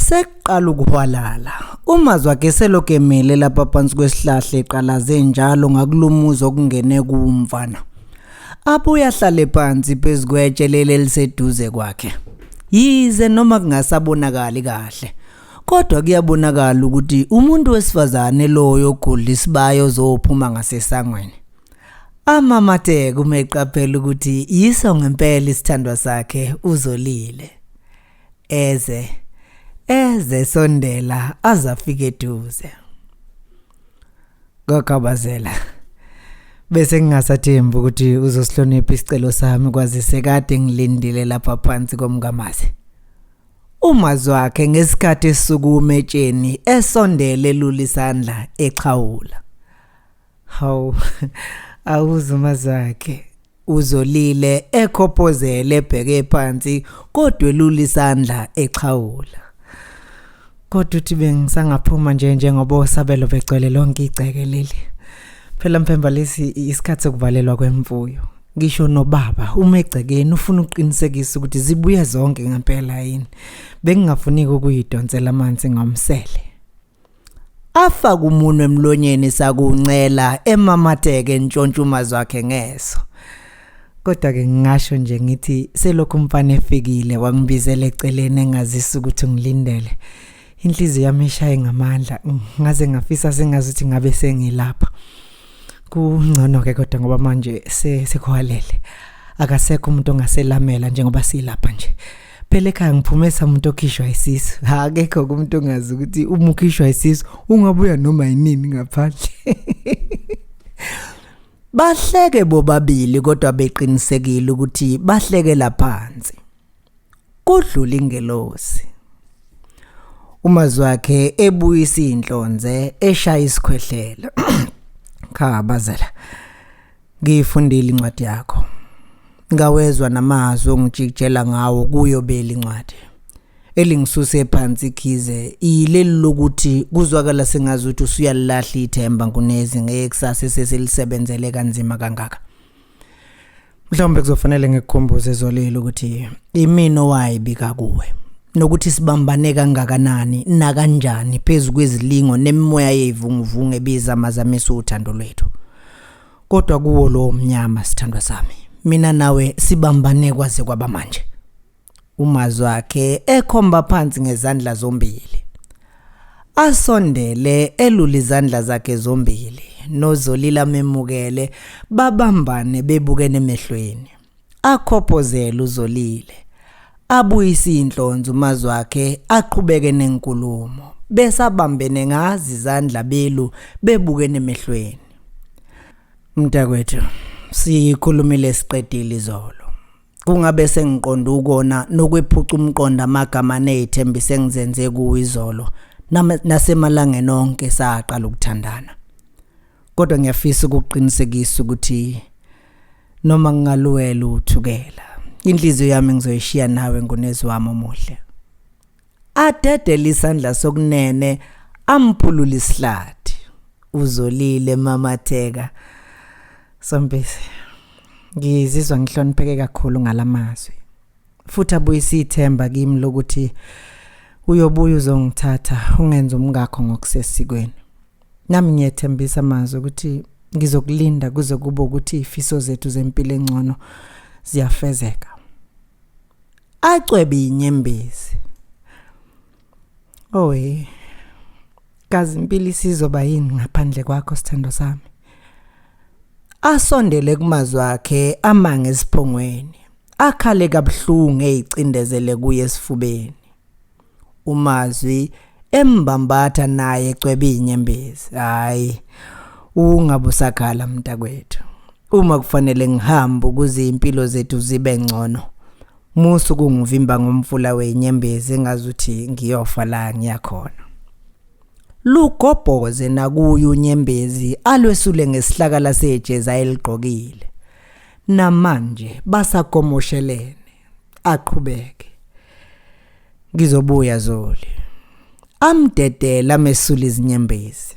Sekuqala ukuhwalala. UMazwakhe selokhu emile lapha phansi kwesihlahla eqalaze njalo ngakulumuzi okungene kumfana. Abuye ahlale phansi phezu kwetshe leli eliseduze kwakhe. Yize noma kungasabonakali kahle, kodwa kuyabonakala ukuthi umuntu wesifazane loyo ogudla isibayo ozophuma ngasesangweni. Amamathe kumeqaphela ukuthi yiso ngempela isithandwa sakhe uzolile. eze eze sondela azafike eduze ngakabazela bese ngingasathembi ukuthi uzosihlonipha isicelo sami kwazise kade ngilindile lapha phansi komngamazi umazi wakhe ngesikhathi esukume etsheni esondele lula isandla exhawula Hawu awuzuma zakhe uzolile ekhopozele ebheke phansi kodwa elula isandla exhawula kodwa uthi bengisangaphuma nje njengoba osabelo begcwele lonke igceke leli phela mphemba lesi isikhathi sokuvalelwa kwemfuyo ngisho nobaba uma egcekeni ufuna ukuqinisekisa ukuthi zibuye zonke ngempela yini bengingafuniki ukuyidonsela amanzi ngomsele Afa kumunwe emlonyeni sakuncela emamateke ntshontshuma zakhe ngeso. Kodwa ke ngingasho nje ngithi selokhu umfana efikile wangibizela eceleni engazisa ukuthi ngilindele. Inhliziyo yami ishaye ngamandla ngaze ngafisa sengazi ukuthi ngabe sengilapha. Kungcono ke kodwa ngoba manje sekuhalele. Akasekho umuntu ongaselamela njengoba silapha nje. phela ekhaya ngiphume samuntu okhishwa isisu ha akekho kumuntu ongazi ukuthi uma ukhishwa isisu ungabuya noma yinini ngaphandle bahleke bobabili kodwa beqinisekile ukuthi bahlekela phansi kudlula ingelosi umazwakhe ebuyisa inhlonze eshaya isikhwehlela cha bazela Ngiyifundile incwadi yakho. Ngawezwa namazwi ongijikijela ngawo kuyo beli incwadi. Elingisuse phansi khize ileli lokuthi kuzwakala sengazi ukuthi usuyalilahla ithemba nkunezi ngekusasa eseselisebenzele kanzima kangaka. Mhlawumbe kuzofanele ngikukhumbuze zolile ukuthi imina owayibika kuwe nokuthi sibambane kangakanani nakanjani phezu kwezilingo nemimoya yevunguvungu ebiza amazamisa uthando lwethu. kodwa kuwo lowo mnyama sithandwa sami mina nawe sibambane kwaze kwaba manje umazi wakhe ekhomba phansi ngezandla zombili asondele elula izandla zakhe zombili nozolila memukele babambane bebukene emehlweni Akhophozele uzolile. Abuyise inhlonzo umazi wakhe aqhubeke nenkulumo. Besabambene ngazi izandla belu bebukene emehlweni. Mntakwethu, siyikhulumile siqedile izolo. Kungabe sengiqonda ukona nokwephuca umqondo amagama nezithembiso engizenze kuwe izolo nasemalangeni onke saqala ukuthandana. kodwa ngiyafisa ukuqinisekisa ukuthi noma ngingaluwela uthukela inhliziyo yami ngizoyishiya nawe ngunezi wami omuhle adedele isandla sokunene amphulula isihlathi uzolile mamatheka sompisi ngizizwa ngihlonipheke kakhulu ngalamazwi futhi abuyisa ithemba kimi lokuthi uyobuya uzongithatha ungenza umngakho ngokusesikweni Nami ngiyethembisa amazwi ukuthi ngizokulinda kuze kube ukuthi ifiso zethu zempilo engcono ziyafezeka. Acwebe inyembezi. Owe. Kazi impilo isizoba yini ngaphandle kwakho sithando sami? Asondele kumazwi akhe amange esiphongweni. Akhale kabuhlungu ezicindezele kuye esifubeni. umazwi embambatha naye cwebe inyembezi hayi ungabusakhala mntakwethu uma kufanele ngihambe ukuze impilo zethu zibe ngcono musu kungivimba ngomfula wenyembezi engazuthi ngiyofa la ngiyakhona lugobhoze nakuye unyembezi alwesule ngesihlakala sejeza eligqokile namanje basagomoshelene aqhubeke ngizobuya zoli amdedela mesula izinyembezi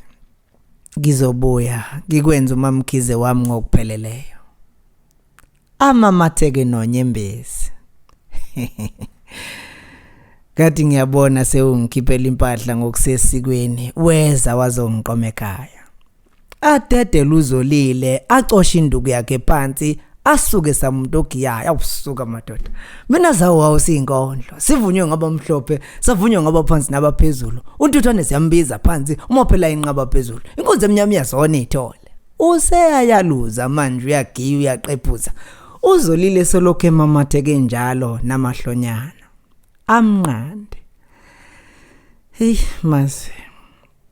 ngizobuya ngikwenza umamkhize wami ngokupheleleyo amamatheke nonyembezi ngathi ngiyabona sewungikhiphela impahla ngokusesikweni weza wazongiqoma ekhaya adedele uzolile acoshe induku yakhe phansi asuke samuntu ogiyayo awusuka madoda mina zawo wawo siyinkondlo sivunywe ngaba mhlophe savunywe ngaba phansi nabaphezulu untuthwane siyambiza phansi uma phela inqaba phezulu inkunzi emnyama iyazona ithole useyayaluza manje uyagiya uyaqephuza uzolile solokhu emamatheke njalo namahlonyana amnqande hey mazi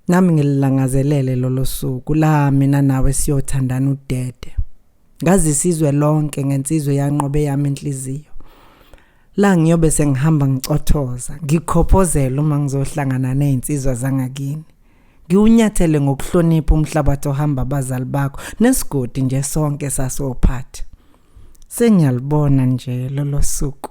Nami ngililangazelele lolo suku la mina nawe siyothandana udede. Ngazisizwe lonke ngensizwe yanqobe yami inhliziyo. La ngiyobe sengihamba ngicothoza, ngikhophozela uma ngizohlangana nezinsizwa zangakini. Ngiwunyathele ngokuhlonipha umhlabathi ohamba abazali bakho nesigodi nje sonke sasophathi. Sengiyalibona nje lolo suku.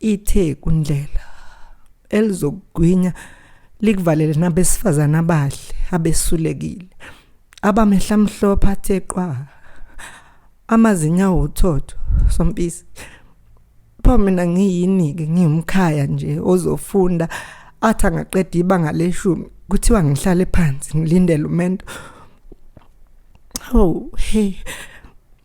ithe kundlela elizokugwinya likuvalele nabesifazana abahle abesulekile abamehla mhlophe athe qwa amazinyawo uthotho sompisi pho mina ngiyini-ke ngiwumkhaya nje ozofunda athi angaqeda ibanga leshumi kuthiwa ngihlale phansi ngilindele umento oh hey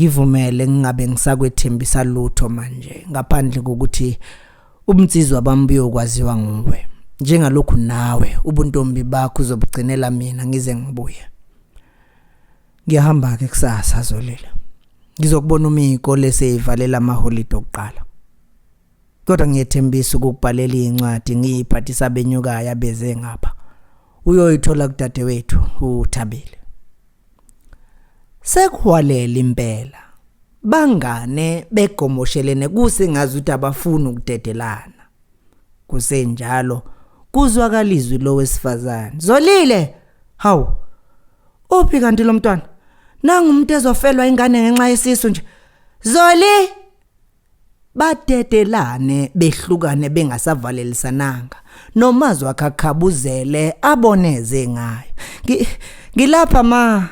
Ngivumele ngingabe ngisakwethembisa lutho manje ngaphandle kokuthi ubunsizwa bami buyokwaziwa nguwe. Njengalokhu nawe ubuntombi bakho uzobugcinela mina ngize ngibuye. Ngiyahamba-ke kusasa Zolile. Ngizokubona uma iy'kole seyivalela amaholide okuqala. Kodwa ngiyethembisa ukukubhalela incwadi ngiyiphathisa benyukayo abeze ngapha. Uyoyithola kudadewethu uThabile. Sekuhwalela impela. Bangane begomoshelene kusengazi ukuthi abafuni ukudedelana. Kusenjalo kuzwakala izwi lowesifazane. Zolile, hawu. Uphi kanti lo mntwana? Nangu umuntu ezofelwa ingane ngenxa yesisu nje. Zoli! Badedelane behlukane bengasavalelisananga. Nomazwi akhakhabuzele aboneze ngayo. Ngi- Ngilapha ma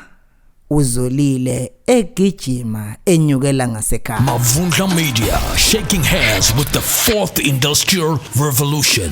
uzolile egijima enyukela ngasekhaya. Mavundla Media, shaking hands with the fourth industrial revolution.